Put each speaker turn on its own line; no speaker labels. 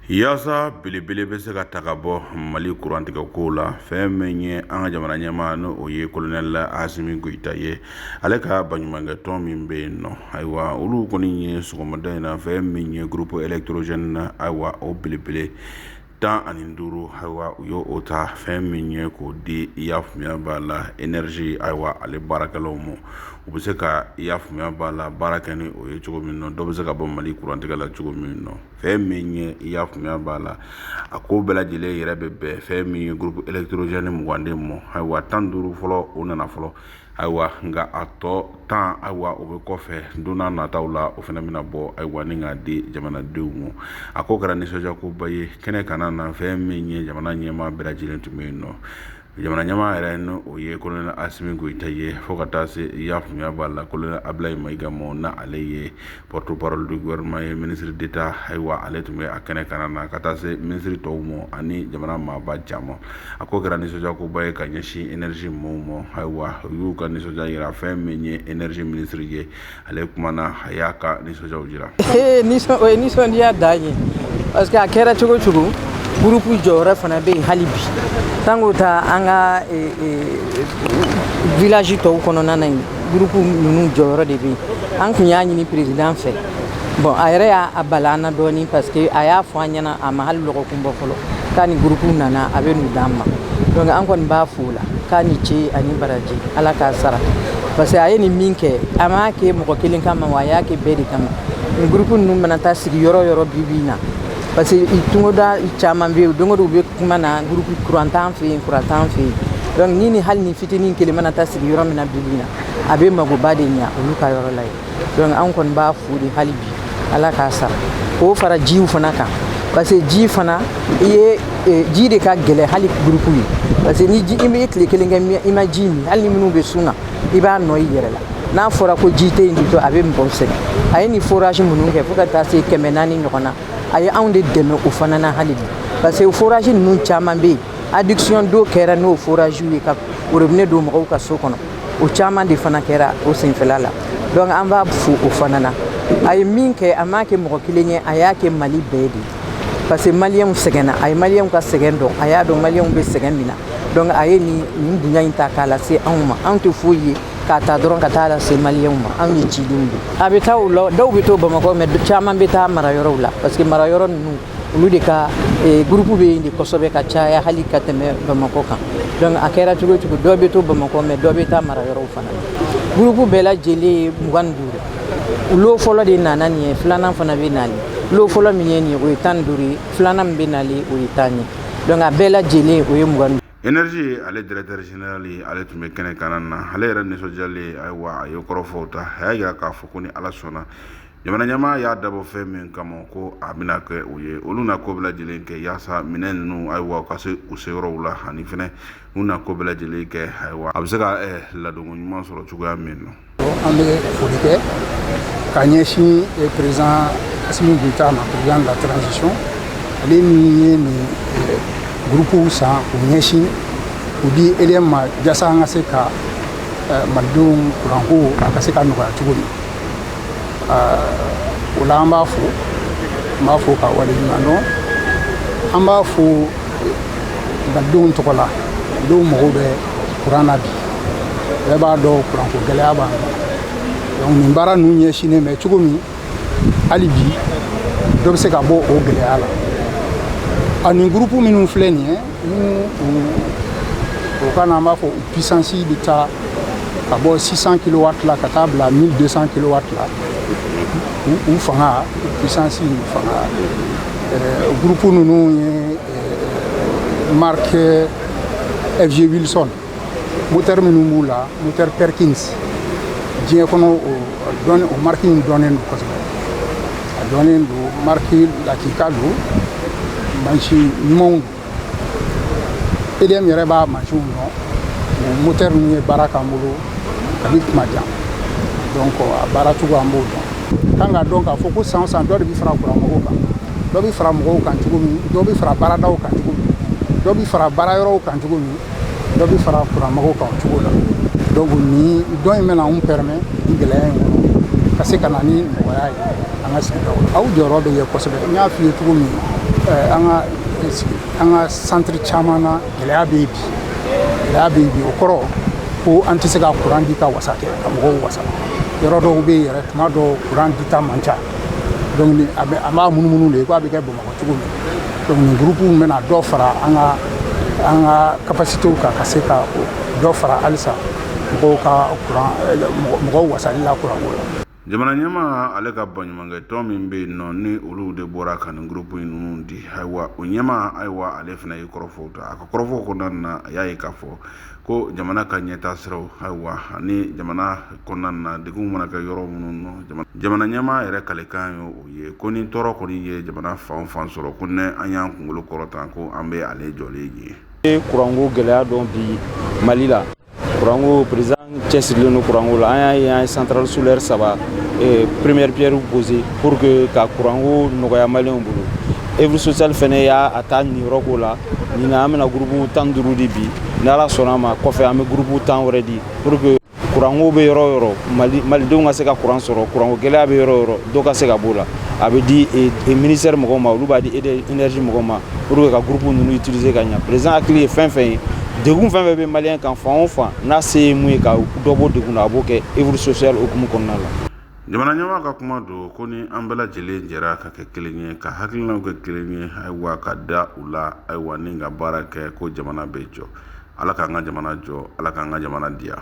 yaasa belebele bɛ se ka ta ka bɔ mali kurantigɛ kow la fɛn min ye an ka jamana ɲɛmaa ni o ye kolonɛli asimi goyita ye ale ka baɲumankɛ tɔn min bɛ yen nɔ ayiwa olu kɔni ye sɔgɔmada in na fɛn min ye groupe électrogène na ayiwa o belebele tan ani duuru ayiwa u y'o o ta fɛn min ye k'o di i y'a faamuya b'a la énergie ayiwa ale baarakɛlaw ma u bɛ se ka i y'a faamuya b'a la baara kɛ ni o ye cogo min na dɔ bɛ se ka bɔ mali kurantigɛ la cogo min na fɛn min ye i y'a faamuya b'a la a ko bɛɛ lajɛlen yɛrɛ bɛ bɛn fɛn min ye groupe électrogène mugan de ma ayiwa tan duuru fɔlɔ o nana fɔlɔ ayiwa nka a tɔ tan ayiwa o bɛ kɔfɛ don na nataw la o fana bɛna bɔ ayiwa ni k'a di jamanadenw ma a ko kɛra nisɔndiyakoba ye kɛnɛ kana na fɛn min ye jamana ɲɛmaa bɛɛ lajɛlen tun bɛ yen nɔ jamana ɲɛmaa yɛrɛ ni o ye kolonɛli asimi goyita ye fo ka taa se i y'a faamuya b'a la kolonɛli abilayi mayiga ma n'ale ye porte-parole du gouvernement ye ministre d'état ayiwa ale tun bɛ a kɛnɛ kana na ka taa se ministre tɔw ma ani jamana maaba caman a ko kɛra nisɔndiyakoba ye ka ɲɛsin énergie mɔɔw ma ayiwa u y'u ka nisɔndiya yira fɛn min ye énergie ministre ye ale kumana a y'a ka nisɔndiyaw jira o
ye nisɔndiya dan ye parce que a kɛra cogo cogo gurupu jɔyɔrɔ fana bɛ yen hali bi sanko ta an ka village tɔw kɔnɔna na yen gurupu ninnu jɔyɔrɔ de bɛ yen an kun y'a ɲini perezidan fɛ bon a yɛrɛ y'a a bala an na dɔɔni parce que a y'a fɔ an ɲɛna a ma hali lɔgɔkun bɔ fɔlɔ k'a ni gurupu nana a bɛ n'u d'an ma donc an kɔni b'a fo la k'a ni ce ani baraji ala k'a sara parce que a ye nin min kɛ a m'a kɛ mɔgɔ kelen kama wa a y'a kɛ bɛɛ de kama nin gurupu ninnu mana taa sigi yɔrɔ yɔrɔ bi bi in na parce que togoda caman bɛ yen don o don u bɛ kuma na gurupu kuran t'an fɛ yen kuran t'an fɛ yen donc ni ni hali ni fitinin kelen mana taa sigi yɔrɔ min na bi bi na a bɛ magoba de ɲa olu ka yɔrɔ la ye donc an kɔni b'a fo de hali bi ala k'a sara o fara jiw fana kan parce que ji fana i ye eh, ji de ka gɛlɛ hali gurupu ye parce que ni ji i bɛ tile kelen kɛ i ma ji min hali ni minnu bɛ sun na i b'a nɔ y'i yɛrɛ la n'a fɔra ko ji tɛ yen du tout a bɛ mɔgɔw sɛgɛn a ye nin forage minnu kɛ fo ka taa se kɛmɛ naani ɲɔgɔn na a ye anw de dɛmɛ o fana na hali bi parce que forage ninnu caman bɛ yen adduction d'eau kɛra n'o forage ye ka robinet don mɔgɔw ka so kɔnɔ o caman de fana kɛra o senfɛla la donc an b'a fo o fana na a ye min kɛ a m'a kɛ mɔgɔ kelen ye a y'a kɛ mali bɛɛ de ye parce que maliyɛnw sɛgɛnna a ye maliyɛnw ka sɛgɛn dɔn a y'a dɔn maliyɛnw bɛ sɛgɛn min na donc a ye nin nin bonya in ta k'a lase anw ma anw tɛ foyi ye k'a ta dɔrɔn ka taa lase maliyɛnw ma anw ye cidenw de a bɛ taa o la dɔw bɛ to bamakɔ mais caman bɛ taa mara yɔrɔw la parce que mara yɔrɔ ninnu olu de ka eh, gurupu bɛ yen de kosɛbɛ ka caya hali ka tɛmɛ bamakɔ kan donc a kɛra cogo cogo dɔ bɛ to bamakɔ mais dɔ bɛ taa mara yɔrɔw fana gurupu bɛɛ lajɛlen ye mugan ni duuru lo fɔlɔ de nana nin ye filanan fana bɛ nali lo fɔlɔ min ye nin ye o ye tan ni duuru ye filanan min bɛ nali o ye tan ye donc a bɛɛ lajɛlen o ye mugan ni duuru énergie ale
directeur général ye ale tun bɛ kɛnɛ kanna na ale yɛrɛ nisɔndiyalen ayiwa a ye kɔrɔfɔw ta a y'a yira k'a fɔ ko ni ala sɔnna jamana ɲɛmaa y'a dabɔ fɛn min kama ko a bɛna kɛ o ye olu na ko bɛɛ lajɛlen kɛ yaasa minɛn ninnu ayiwa ka se u seyɔrɔw la ani fɛnɛ u na ko bɛɛ lajɛlen kɛ ayiwa a bɛ se ka ladonko ɲuman sɔrɔ cogoya min na an bɛ
foli kɛ ka ɲɛsin président asimi goyita ma président de la transition ale min ye nin gurupuw san u ɲɛsin u di EDM ma jasa an ka se ka malidenw kuranko a ka se ka nɔgɔya cogo min o la an b'a fo an b'a fo k'a waleɲuman dɔn an b'a fo malidenw tɔgɔ la malidenw mago bɛ kuran na bi bɛɛ b'a dɔn kuranko gɛlɛya b'an kan donc nin baara ninnu ɲɛsinnen bɛ cogo min hali bi dɔ bɛ se ka bɔ o gɛlɛya la ani gurupu minnu filɛ nin ye n'u o ka na an b'a fɔ u puissance bɛ taa ka bɔ 600 kilowatt la ka taa bila 1200 kilowatt la u fanga u puissance u fanga gurupu ninnu ye mariki fg wilson motɛri minnu b'u la motɛri perkins diɲɛ kɔnɔ o mariki in dɔnnen don kosɛbɛ a dɔnnen don mariki lakika don mansin ɲumanw don EDM yɛrɛ b'a mansinw dɔn o moteur ninnu ye baara k'an bolo kabi tuma jan donc a baara cogo an b'o dɔn k'an k'a dɔn k'a fɔ ko san o san dɔ de bɛ fara kuran mɔgɔw kan dɔ bɛ fara mɔgɔw kan cogo min dɔ bɛ fara baaradaw kan cogo min dɔ bɛ fara baara yɔrɔw kan cogo min dɔ bɛ fara kuran mɔgɔw kan o cogo la donc nin don in bɛna anw permet nin gɛlɛya in kɔnɔ ka se ka na ni nɔgɔya ye an ka sigidaw la aw jɔyɔrɔ bɛ ye kosɛbɛ n y'a f'i ye cogo min an ka an ka santiri caman na gɛlɛya bɛ yen bi gɛlɛya bɛ yen bi o kɔrɔ ko an tɛ se ka kuran di ka wasa kɛ ka mɔgɔw wasa yɔrɔ dɔw bɛ yen yɛrɛ tuma dɔw kuran dita man ca donc a bɛ an b'a munumunu de ko a bɛ kɛ bamakɔ cogo min donc nin gurupuw bɛna dɔ fara an ka an ka kapasitew kan ka se ka dɔ fara halisa mɔgɔw ka kuran mɔgɔw wasali la kuranko la jamana
ɲɛmaa ale ka baɲumankɛ tɔn min bɛ yen nɔ ni olu de bɔra ka nin groupe ninnu di ayiwa o ɲɛma ayiwa ale fana ye kɔrɔfɔw ta a ka kɔrɔfɔw kɔnɔna na a y'a ye k'a fɔ ko jamana ka ɲɛtaa siraw ayiwa ani jamana kɔnɔna na degun mana kɛ yɔrɔ minnu nɔ jamana ɲɛmaa yɛrɛ kalikan ye o ye ko ni tɔɔrɔ kɔni ye jamana fan fan sɔrɔ ko ni an y'an kunkolo kɔrɔta ko an bɛ ale jɔlen ye kuranko gɛlɛya don
bi mali la Kuranko président cɛsirilen don kuranko la an y'a ye an ye centrale solaire saba première pierre poser pour que ka kuranko nɔgɔyaya maliyɛnw bolo œuvre sociale fana y'a ta niyɔrɔ k'o la nin na an bɛna groupe tan duuru di bi ni ala sɔnna a ma kɔfɛ an bɛ groupe tan wɛrɛ di pour que kuranko bɛ yɔrɔ yɔrɔ malidenw ka se ka kuran sɔrɔ kuranko gɛlɛya bɛ yɔrɔ yɔrɔ dɔ ka se ka b'o la a bɛ di ministère mɔgɔw ma olu b'a di énergie mɔgɔw ma pour que ka groupe ninnu utiliser ka ɲa président hakili ye fɛn fɛn ye degun fɛn fɛn bɛ maliyɛn kan fan o fan n'a se ye mun ye ka dɔ bɔ degun na a b'o kɛ œuvre sociale hukumu kɔnɔna la jamana ɲɛmaa ka
kuma don ko ni an bɛɛ lajɛlen jɛra ka kɛ kelen ye ka hakilinaw kɛ kelen ye ayiwa ka da u la ayiwa ni ka baara kɛ ko jamana bɛ jɔ ala k'an ka jamana jɔ ala k'an ka jamana diya